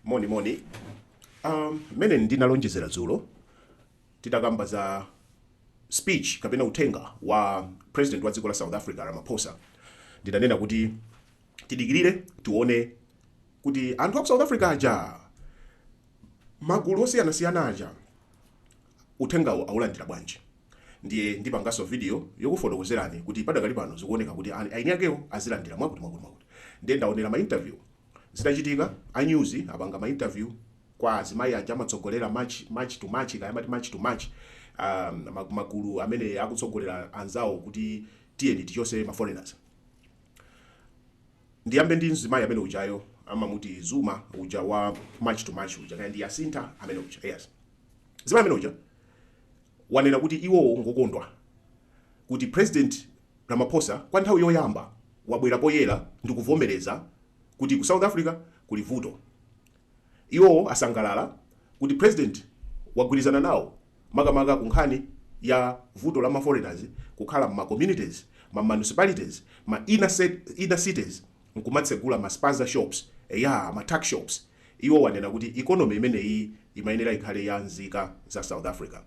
moni moni um, mene ndinalonjezera dzulo titakamba za speech kapena uthenga wa president wa dziko la south africa ramaphosa ndidanena kuti tidikirire tione kuti anthu aku south africa aja magulu osiyanasiyana aja uthengawo aulandira bwanji ndiye ndipanganso video yokufotokozerani kuti padakali pano zikuoneka kuti ani- aini akewo azilandira mwakuti mwakuti mwakuti ndiye ndaonera ma interview Zitachitika, a news apanga ma interview kwa azimayi aja amatsogolera march, march to march kaya amati march to march, a magulu amene akutsogolera anzawo kuti tiyeni tichotse ma foreigners. Ndiyambe ndi mzimayi amene ujayo amamuti Zuma uja wa march to march uja kaya ndi Yasintha amene uja. Yes. Mzimayi amene uja wanena kuti iwowo ngokondwa kuti president Ramaphosa kwa nthawi yoyamba wabwera poyera ndikuvomereza kuti ku South Africa kuli vuto. Iwo asangalala kuti president wagwirizana nawo makamaka ku nkhani ya vuto la ma foreigners kukhala mma communities, ma municipalities, ma inner cities nkumatsegula ma spaza shops, eya ma tuck shops. Iwo anena kuti economy imeneyiyi imayenera ikhale ya nzika za South Africa.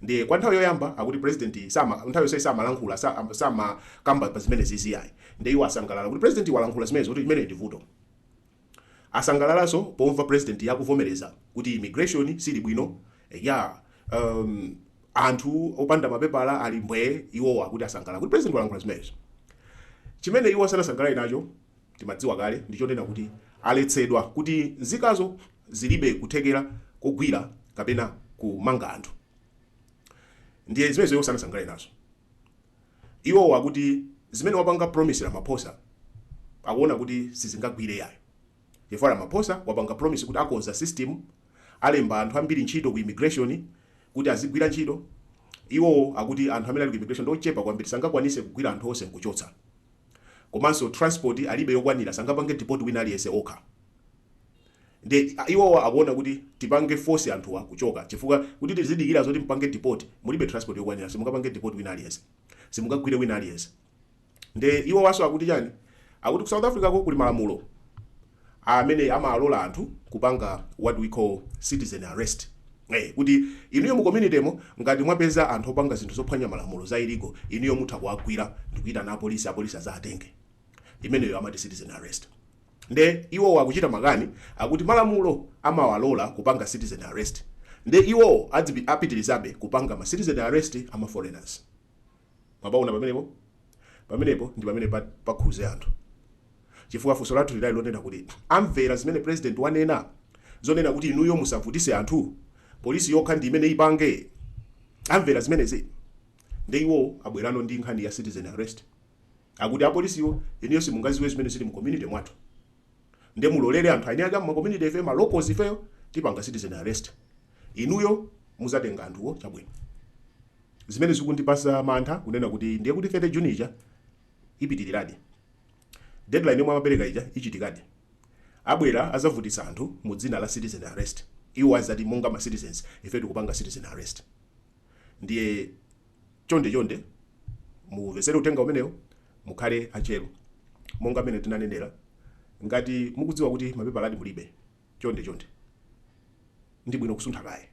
ndiye kwa nthawi yoyamba akuti president sama nthawi yonse samalankhula sa- am- samakamba pa zimenezizi yayi ndiye iwo asangalala kuti president walankhula zimenezo kuti imeneyi ndi vuto asangalalanso pomva president akuvomereza kuti immigration siili bwino ya um, anthu opanda mapepala ali mbwee iwowa akuti asangalala kuti president walankhula zimenezo chimene iwo sanasangalale nacho timadziwa kale ndi chonena kuti aletsedwa kuti nzikazo zilibe kuthekera kogwira kapena kumanga anthu ndiye zimenezo iwo sanasangalale nazo iwowo akuti zimene wapanga promise ramaphosa akuona kuti sizingagwire yayo chifukwa ramaphosa wapanga promise kuti akonza system alemba anthu ambiri ntchito ku immigration kuti azigwira ntchito iwowo akuti anthu amene ali ku immigration ndi ochepa kwambiri sangakwanise kugwira anthu onse nkuchotsa komanso transport alibe yokwanira sangapange deport wina aliyense okha nde iwowo akuona kuti tipange force anthuwa kuchoka chifukwa kuti tizidikira zoti mupange deport mulibe transport yokwanira simungapange deport wina aliyense simungagwire wina aliyense nde iwowanso akuti chani akuti ku south africa ko kuli malamulo amene amawalola anthu kupanga what we call citizen arrest eh kuti inuyo mu community mo ngati mwapeza anthu opanga zinthu zophwanya malamulo za illegal inuyo mutha kuwagwira ndikuyitana apolisi apolisi azawatenge imeneyo amati citizen arrest nde iwowo akuchita makani akuti malamulo amawalola kupanga citizen arrest nde iwowo adzipi- apitirizabe kupanga ma citizen arrest ama foreigners Mwapaona pamenepo? Pamenepo ndi pamene pakhuze anthu. Chifukwa funso lathu linali lonena kuti amvera zimene president wanena? Zonena kuti inuyo musavutise anthu? Police yokha ndi imene ipange? Amvera zimenezi? Nde iwo abwerano ndi nkhani ya citizen arrest. Akuti apolisiwo, inuyo simungaziwe zimene zili mu community mwathu. nde mulolere anthu aeni ake a muma community ifeyo ma locals ifeyo tipanga citizen arrest inuyo muzatenga anthuwo chabwino zimene zikundipasa mantha kunena kuti ndiye kuti 30 June ija ipitiliradi deadline yomwe amapereka ija ichitikadi abwera azavutitsa anthu mu dzina la citizen arrest iwo azati monga ma citizens ife tikupanga citizen arrest ndiye Chonde chonde muwumvesere uthenga umenewu mukhale atcheru monga mene tinanenera ngati mukudziwa kuti mapepaladi mulibe chonde chonde ndi bwino kusuntha kaye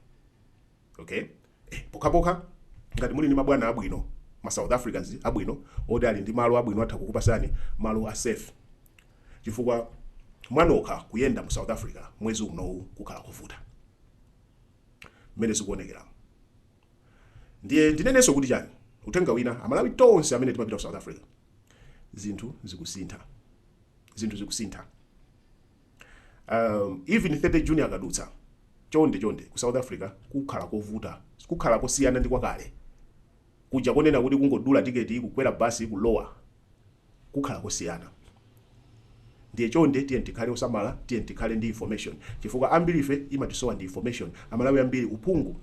okay eh, pokhapokha ngati muli ndi mabwana abwino ma south africans abwino oti ali ndi malo abwino atha kukupasani malo a safe chifukwa mwanokha kuyenda mu south africa mwezi uno ukukhala kuvuta mmene zikuonekera ndiye ndinenenso kuti chani uthenga wina amalawi tonse amene timapita ku south africa zinthu zikusintha zinthu zikusintha um, even 30 June akadutsa chonde chonde ku south africa kukhala kovuta kukhala kosiyana ndi kwakale kuja konena kuti kungodula tiketi kukwera basi kulowa kukhala kosiyana. Ndiye chonde tiyeni tikhale osamala, tiyeni tikhale ndi information chifukwa ambirife imatisowa ndi information. Amalawi ambiri uphungu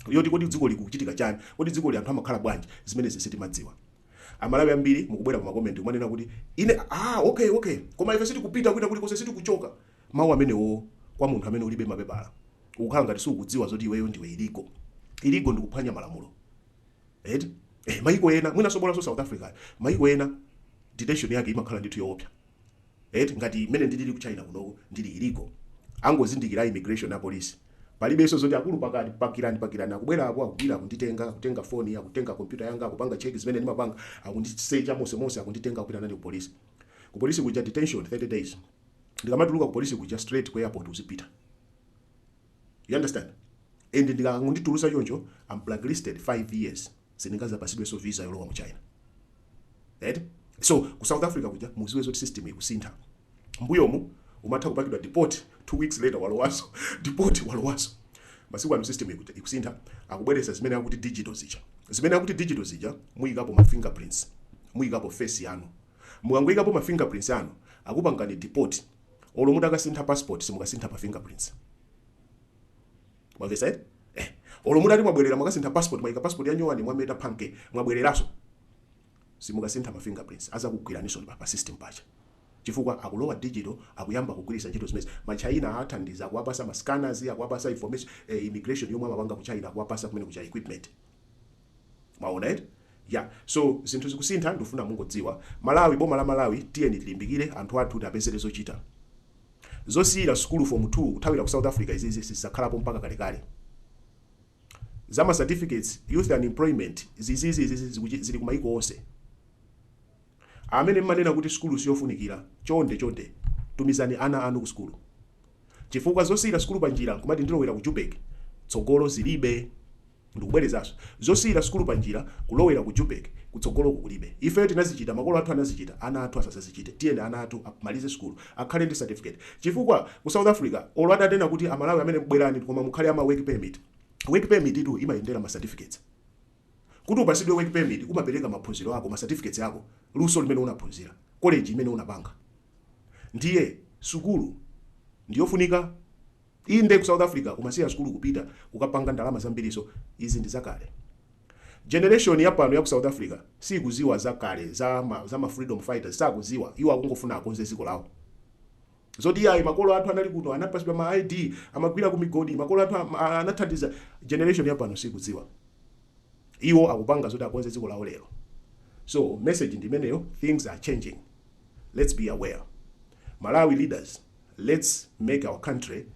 yoti kodi dzikoli likuchitika chani, kodi dzikoli anthu amakhala bwanji, zimenezi sitimadziwa. Amalawi ambiri mukubwera ku ma comment kumanena kuti ine aah ok ok koma ife sitikupita kwina kulikonse, sitikuchoka. Mau amenewowo kwa munthu amene ulibe mapepala ukukhala ngati sukudziwa zoti iweyo ndiwe illegal. Illegal ndikuphwanya malamulo. eti eh, maiko ena mwinanso bolanso south africa maiko ena detention yake imakhala ndithu yoopsa eti ngati mmene ndilili ku china kunoko ndili illegal angozindikira immigration na police palibenso zoti akulu pakirani pakirani akubwera apo akundigwira akunditenga akutenga foni akutenga kompyuta yanga akupanga cheki zimene ndimapanga akundisecha monse monse akunditenga akupita nane ku polisi ku polisi kuja detention 30 days ndikamatuluka ku polisi kuja straight ku airport uzipita you understand and akangonditulusa choncho I'm blacklisted 5 years sindingazapasidwenso visa yolowa mu china right so ku south africa kuja muziwe zoti system ikusintha mbuyomu umatha kupangidwa deport two weeks later walowaso deport walowaso masiku ano system ikusintha akubweresa zimene akuti digital zija zimene akuti digital zija muyikapo ma fingerprints muyikapo face yanu mukangoyikapo ma fingerprints anu akupangani deport olo mutakasintha passport simukasintha pa fingerprints mwamvesa eh? eh olo mutati mwabwerera mwakasintha passport mwaika passport ya nyowani mwameta mpanke mwabwereraso simukasintha ma fingerprints azakugwiraniso pa pa system paja chifukwa akulowa digital akuyamba kugwiritsa ntchito zimezi ma China athandiza kuwapasa ma scanners akuwapasa information eh, immigration yomwe amapanga ku China akuwapasa kumene kuja equipment mwaona eti ya so zinthu zikusintha ndikufuna mungodziwa malawi boma la malawi tiyeni tilimbikire anthu athu tiapezere zochita zosiyira sukulu fomu 2 kuthawira ku south africa izizi sizizakhalapo mpaka kalekale za ma certificates youth unemployment zizizi izizi zikuchi- zili kumayiko onse amene mmanena kuti sukulu siyofunikira chonde chonde tumizani ana anu ku sukulu chifukwa zosiyira sukulu panjira nkumati ndilowera ku Joburg tsogolo zilibe. ndikubwerezanso zosiyira sukulu panjira kulowera ku Joburg kutsogolo kulibe. ifeyo tinazichita, makolo athu anazichita, ana athu asazazichite. tiyeni ana athu amalize sukulu akhale ndi certificate chifukwa ku south africa olo atanena kuti amalawi amene bwerani koma mukhale ama work permit, work permit tu imayendera ma certificates. kuti upasidwe work permit umapereka maphunziro ako, ma certificates ako, luso limene unaphunzira, college imene unapanga. Ndiye sukulu ndiyofunika? Inde ku South Africa kumasiya sukulu kupita kukapanga ndalama zambiriso izi ndi zakale. Generation ya pano ya ku South Africa siikuziwa za kale za ma, za ma freedom fighters sakuziwa iwo akungofuna akonze dziko lawo. Zoti yayi makolo athu anali kuno anapasidwa ma ID amagwira ku migodi makolo athu anathandiza generation ya pano sikudziwa. Iwo akupanga zoti akonze ziko lawo lero. So message ndi imeneyo things are changing. Let's be aware Malawi leaders let's make our country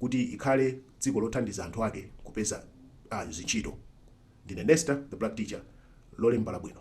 kuti ikhale dziko lothandiza anthu ake kupeza a zintchito. Ndine Nesta the black teacher Lolemba labwino.